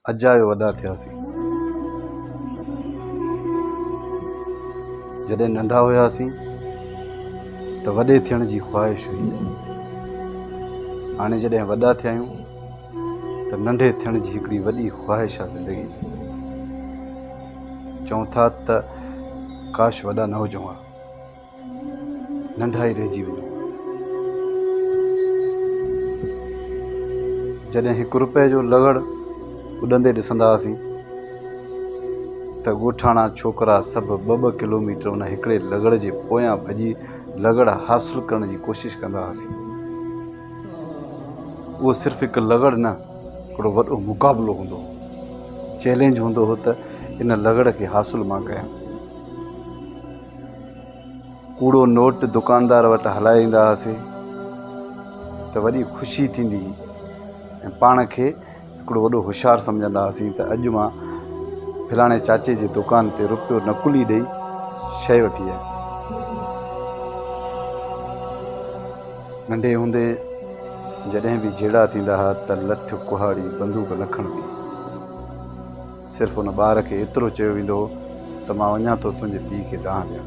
اجايو وڏا ٿياسين. جڏهن ننڍا هياسين ته وڏي ٿيڻ جي خواهش هئي. هاڻي جڏهن وڏا ٿيا آهيون ته ننڍي ٿيڻ جي هڪڙي وڏي خواهش آهي زندگي ۾. چئون ٿا ته ڪاش وڏا نه هجون ها. ننڍا ئي رهجي وڃو. جڏهن هڪ رپئي جو لغڙ اڏندي ڏسندا هئاسين ته ڳوٺاڻا ڇوڪرا سڀ ٻه ٻه ڪلوميٽر ان هڪڙي لغڙ جي پويان ڀڄي لغڙ حاصل ڪرڻ جي ڪوشش ڪندا هئاسين. اهو صرف هڪ لغڙ نه هڪڙو وڏو مقابلو هوندو هو. چئلينج هوندو هو ته ان لغڙ کي حاصل مان ڪيان. ڪوڙو نوٽ دڪاندار وٽ هلائي ايندا هئاسين ته وڏي خوشي ٿيندي هئي ۽ پاڻ کي هڪڙو وڏو هوشيار سمجهندا هئاسين ته اڄ مان فلاڻي چاچي جي دڪان تي رپيو نقلي ڏئي شيء وٺي آيم. ننڍي هوندي جڏهن به جهيڙا ٿيندا هئا ته لٺ، ڪهاڙي، بندوق نه کڻبي. صرف ان ٻار کي ايترو چيو ويندو هو ته مان وڃان ٿو تنهنجي پيء کي دانهن ڏيڻ.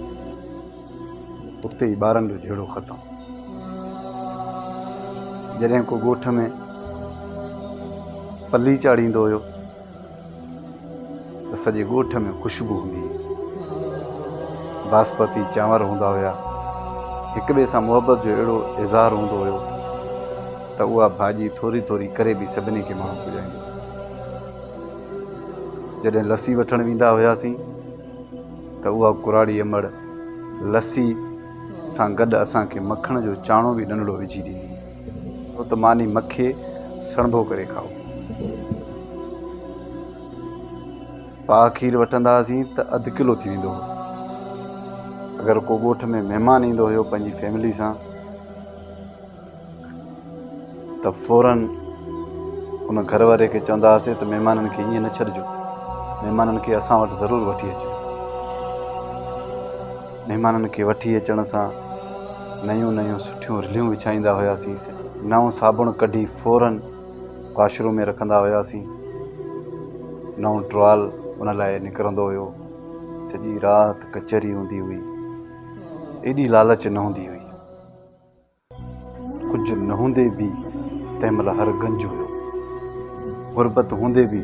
اتي ئي ٻارن جو جهيڙو ختم. جڏهن ڪو ڳوٺ ۾ پلي چاڙهيندو هيو ته سڄي ڳوٺ ۾ خوشبو هوندي هئي. باسپتي چانور هوندا هيا. هڪ ٻئي سان محبت جو اهڙو اظهار هوندو هيو ته اها ڀاڄي ٿوري ٿوري ڪري به سڀني کي ماڻهو پڄائيندو هو. جڏهن لسي وٺڻ ويندا هياسين ته اها ڪراڙي امڙ لسي سان گڏ اسان کي مکڻ جو چاڻو به ننڍڙو وجهي ڏيندي هئي ڇو ته ماني مکي سڻڀو ڪري کائو. پاهه کير وٺندا هئاسين ته اڌ ڪلو ٿي ويندو هو. اگر ڪو ڳوٺ ۾ مهمان ايندو هيو پنهنجي فيملي سان. ته فوراً ان گهر واري کي چوندا هئاسين ته مهمانن کي ائين نه ڇڏجو، مهمانن کي اسان وٽ ضرور وٺي اچو. مهمانن کي وٺي اچڻ سان نيون نيون سٺيون رليون وڇائيندا هياسين، نئون صابڻ ڪڍي فوراً واش روم ۾ رکندا هياسين، نئون ٽوال ان لاء نڪرندو هيو، سڄي رات ڪچهري هوندي هئي، ايڏي لالچ نه هوندي هئي. ڪجهه نه هوندي به تنهن مهل هر گنج هيو. غربت هوندي به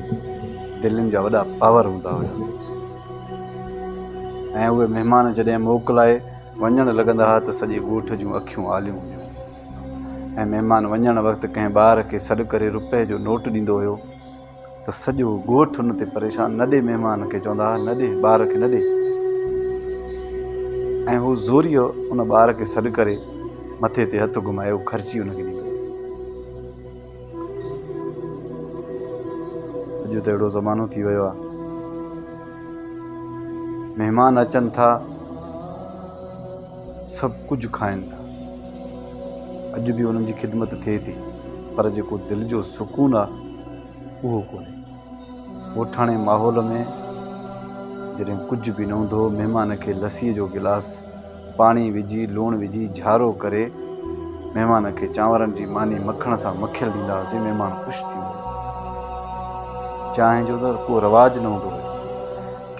دلين جا وڏا پاور هوندا هيا ۽ اهي مهمان جڏهن موڪ لاء وڃڻ لڳندا ها ته سڄي ڳوٺ جون اکيون آليون هونديون هيون ۽ مهمان وڃڻ وقت ڪنهن ٻار کي سڏ ڪري روپئي جو نوٽ ڏيندو هيو. ته سڄو ڳوٺ ان تي پريشان، نه ڏي مهمان کي، چوندا ها نه ڏي ٻار کي نه ڏي ۽ هو زوريء ان ٻار کي سڏ ڪري مٿي تي هٿ گهمائي هو خرچي ان کي ڏيندو هو. اڄ ته اهڙو زمانو ٿي ويو آهي مهمان اچن ٿا سڀ ڪجهه کائن ٿا اڄ به انهن جي خدمت ٿئي ٿي پر جيڪو دل جو سڪون آهي اهو ڪونهي. ڳوٺاڻي ماحول ۾ جڏهن ڪجهه به نه هوندو هو، مهمان کي لسيء جو گلاس، پاڻي وجهي، لوڻ وجهي، جهارو ڪري، مهمان کي چانورن جي ماني مکڻ سان مکيل ڏيندا هئاسين، مهمان خوش ٿي ويندو هو. چانهه جو ته ڪو رواج نه هوندو هيو.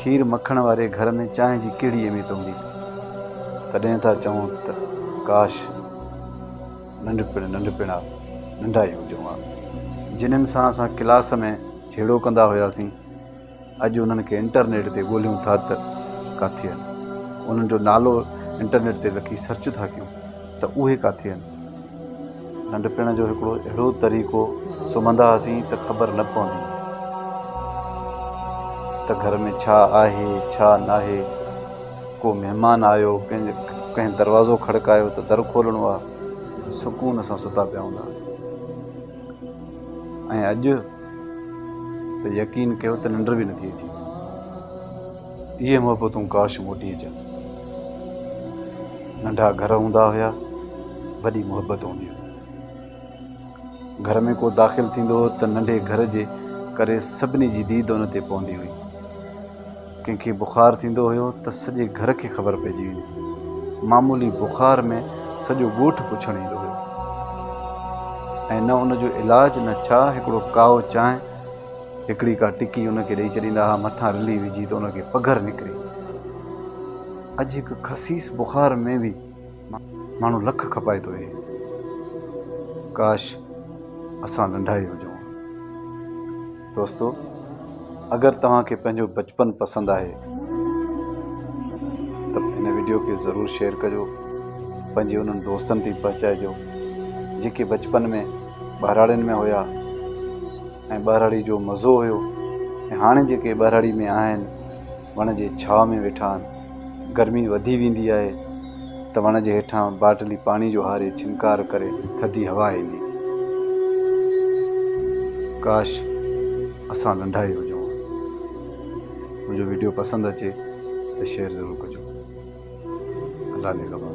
کير مکڻ واري گهر ۾ چانهه جي ڪهڙي اهميت هوندي هئي؟ تڏهن ٿا چئون ته ڪاش! ننڍپڻ ننڍپڻا ننڍا ئي هجون ها جنھن سان اسان ڪلاس ۾ جھيڙو ڪندا هياسين اڄ انھن کي انٽرنيٽ تي ڳوليون ٿا ته ڪاٿي آھن انھن جو نالو انٽرنيٽ تي لکي سرچ ٿا ڪيون ته اهي ڪاٿي آھن ننڍپڻ جو هڪڙو اهڙو طريقو سمھندا هئاسين ته خبر نه پوندي هئي ته گھر ۾ ڇا آھي ڇا ناهي ڪو مهمان آيو، ڪنهن دروازو کڙڪايو ته در کولڻو آ، سڪون سان ستا پيا هوندا ۽ اڄ ته يقين ڪيو ته ننڊ به نٿي اچي. اهي محبتون ڪاش موٽي اچن. ننڍا گهر هوندا هيا، وڏي محبت هوندي هئي. گهر ۾ ڪو داخل ٿيندو هو ته ننڍي گهر جي ڪري سڀني جي ديد ان تي پوندي هئي. ڪنهن کي بخار ٿيندو هيو ته سڄي گهر کي خبر پئجي ويندي هئي. معمولي بخار ۾ سڄو ڳوٺ پڇڻ ايندو هيو ۽ نه ان جو علاج نه ڇا هڪڙو ڪائو چانهه، هڪڙي ڪا ٽڪي ان کي ڏئي ڇڏيندا ها مٿان رلي وجهي ته ان کي پگهر نڪري. اڄ هڪ خسيس بخار ۾ به ماڻهو لک کپائي ٿو ويهي. ڪاش! اسان لنڊائي هجون ها. دوستو اگر توهان کي پنهنجو بچپن پسند آهي ته هن ويڊيو کي ضرور شيئر ڪجو پنهنجي انهن دوستن تي پهچائجو جيڪي بچپن ۾ ٻهراڙين ۾ هيا ۽ ٻهراڙي جو مزو هيو ۽ هاڻي جيڪي ٻهراڙي ۾ آهن وڻ جي ڇا ۾ ويٺا آهن گرمي وڌي ويندي آهي ته وڻ جي هيٺان باٽلي پاڻي جو هاري ڇنڪار ڪري ٿڌي هوا ايندي. ڪاش اسان ننڍا ئي هجون ها. منهنجو ويڊيو پسند اچي ته شيئر ضرور ڪجو. الله نگهبان.